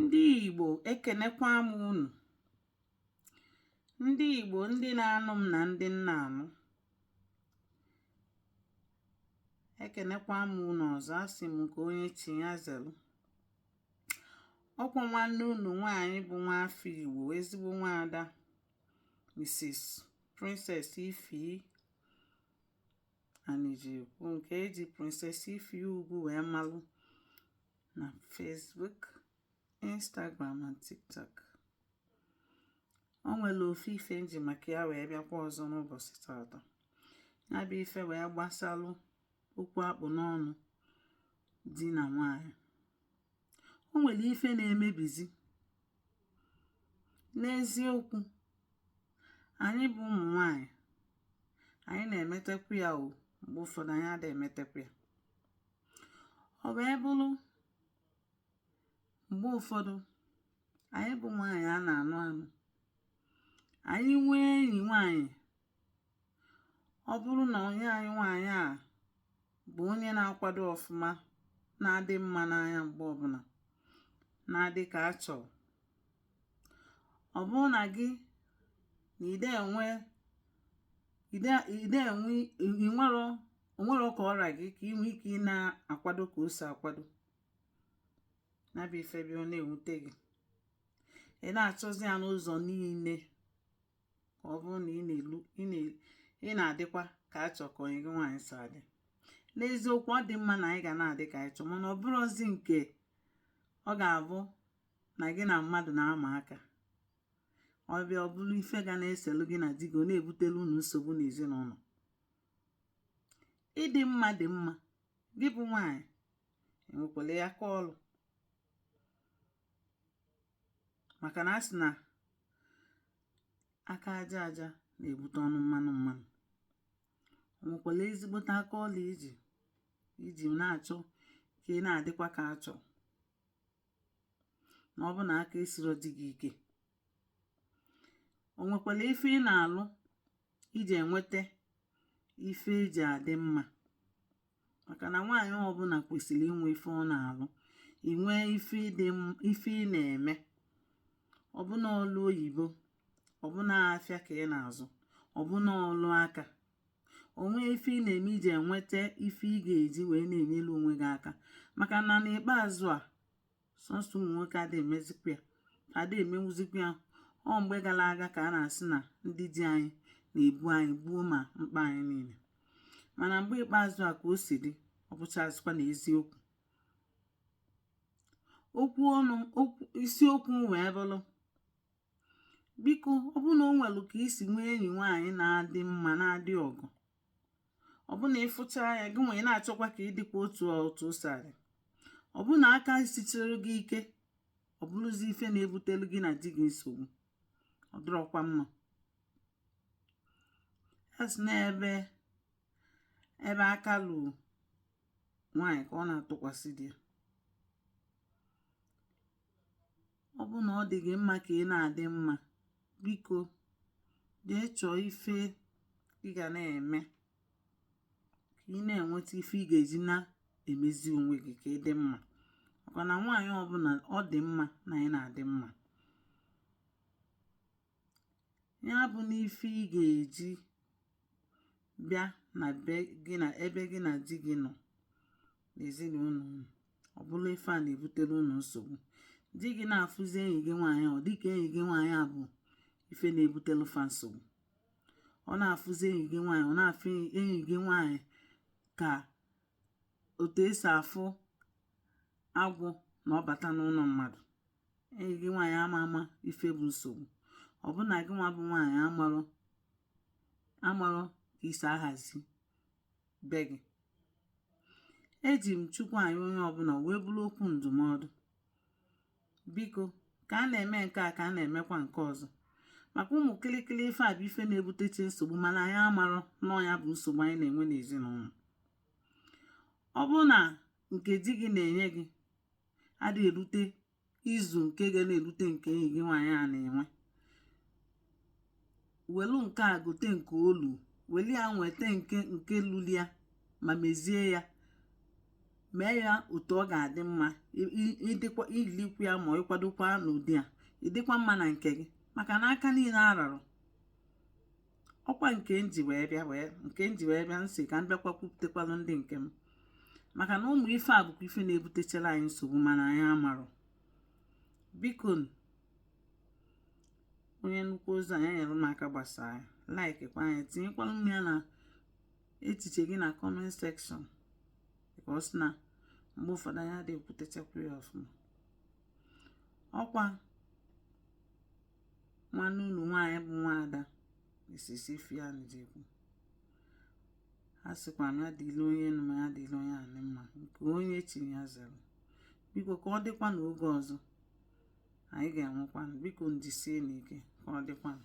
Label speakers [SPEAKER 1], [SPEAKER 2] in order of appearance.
[SPEAKER 1] ndị Igbo ekenekwa m unu ndị Igbo ndị na-anụ m na ndị m na-anụ ekenekwa m unu ọzọ asị m nke onye chi ya zelu ọkwa nwanne unu nwaanyị bụ nwaafọ Igbo ezigbo nwaada Mrs. Princess Ify Anijekwu nke eji Princess Ify Ugwu wee malụ na Facebook Instagram na TikTok o nwere ofu ife m ji maka ya wee bịakwa ọzọ n'ụbọchị taata ya bụ ife wee gbasalụ okwu a kpụ n'ọnụ di na nwanyị o nwere ife na-emebizi n'eziokwu anyị bụ ụmụ nwanyị anyị na-emetekwu ya o mgbe ụfọdụ anyị ada emetekwu ya ọ bịa bụrụ mgbe ụfọdụ anyị bụ nwaanyị a na-anụ anụ anyị nwee enyi nwaanyị ọ bụrụ na ọyị anyị nwaanyị a bụ onye na-akwado ọfụma na-adị mma n'anya mgbe ọbụla na-adị ka a chọ ọ bụrụ na gị na ide enwe ide o nwero ka ọ ra gị ka inwe ike ị na-akwado ka o si akwado ya bụ ife bịa ọ na-ewute gị ị na-achọzi ya n'ụzọ niile ka ọ bụrụ na ị na-adịkwa ka a chọ ka ọyị gị nwaanyị si adị n'eziokwu ọ dị mma na anyị ga na-adị ka a chọ mana ọ bụrụzi nke ọ ga-abụ na gị na mmadụ na-ama aka ọ bịa ọ bụrụ ife ga na-eselu gị na di gị ọ na-ebutelu unu nsogbu n'ezinụlọ ịdị mma dị mma gị bụ nwaanyị ị nwekwalụ aka ọlụ maka na a sị na aka aja aja na-ebute ọnụ mmanụ mmanụ o nwekwalụ ezigbote aka ọlụ iji iji na-achọ ka ị na-adịkwa ka a chọ na ọ bụ na aka esiro di gị ike o nwekwalụ ife ị na-alụ iji enweta ife iji adị mma maka na nwaanyị ọbụla kwesịlị inwe ife ọ na-alụ inwe ife ị na-eme ọbụna ọlụ oyibo ọbụna afịa ka ị na-azụ ọbụna ọlụ aka o nwee ife ị na-eme iji enweta ife ị ga-eji wee na-enyelu onwe gị aka maka na n'ikpeazụ a sọsọ ụmụ nwoke adịghị emezikwa ya adịghị emenwuzikwa ya ọ mgbe gara aga ka a na-asị na ndị di anyị na-ebu anyị gboo ma mkpa anyị niile mana mgbe ikpeazụ a ka o si dị ọ bụchazikwa na eziokwu isiokwu wee bụrụ biko ọ bụrụ na o nwere ka i si nwee enyi nwaanyị na-adị mma na-adị ọgọ ọ bụ na ị fụcha ya gị nwee na-achọkwa ka ị dịkwa otu otu o si adị ọ bụ na aka sichiri gị ike ọ bụrụzi ife na-ebutelu gị na di gị nsogbu ọ dịrọkwa mma a sị na ebe ebe aka luru nwaanyị ka ọ na-atụkwasị di ya ọ bụrụ na ọ dị gị mma ka ị na-adị mma biko jee chọọ ife ị ga na-eme ka ị na-enweta ife ị ga-eji na-emezi onwe gị ka ị dị mma maka na nwaanyị ọbụla ọ dị mma na ị na-adị mma ya bụ na ife ị ga-eji bịa na ebe gị na di gị nọ n'ezinụlọ unu ọ bụrụ ife a na-ebutere unu nsogbu di gị na-afụzi enyi gị nwaanyị ọ dịka enyi gị nwaanyị a bụ ife na-ebutere fa nsogbu ọ na-afụzi enyi gị nwaanyị ọ na-afụ enyi gị nwaanyị ka otu e si afụ agwọ na ọ bata n'ụlọ mmadụ enyi gị nwaanyị ama ama ife bụ nsogbu ọ bụ na gị nwa bụ nwaanyị amarọ ka i si ahazi be gị eji m chukwu ayọ onye ọbụla wee bụrụ okwu ndụmọdụ biko ka a na-eme nke a ka a na-emekwa nke ọzọ maka ụmụ kịlịkịlị ife a bụ ife na-ebutecha nsogbu mana anyị amarọ na ya bụ nsogbu anyị na-enwe n'ezinụlọ ọ bụrụ na nke di gị na-enye gị adị erute ịzụ nke ga na-erute nke enyi gị nwaanyị a na-enwe welu nke a gote nke o lu weli ya nweta nke nke luli ya ma mezie ya mee ya otu ọ ga-adị mma ị dịkwa i likwu ya ma ị kwadokwa n'ụdị a ị dịkwa mma na nke gị maka na aka niile ararọ ọkwa nke m ji wee bịa wee nke m ji wee bịa sị ka m bịakwa kwupụtakwalụ ndị nke m maka na ụmụ ife a bụkwa ife na-ebutechara anyị nsogbu mana anyị amarọ biko onye nụkwa ozi a ya nyere m aka gbasaa ya likekwa anyị tinyekwalụ m ya na echiche gị na comment section because na mgbe ụfọdụ anyị adịghị ekwutechakwa ya ọfụma ọkwa nwanne unu nwaanyị bụ nwaada Mrs. Ifeanyi Jekwu a sịkwa na ya dịlụ onye nụ mma ya dịlụ onye na-ene mma nke onye chi ya zere biko ka ọ dịkwa n'oge ọzọ anyị ga-enwekwanụ biko njisie n'ike ka ọ dịkwanụ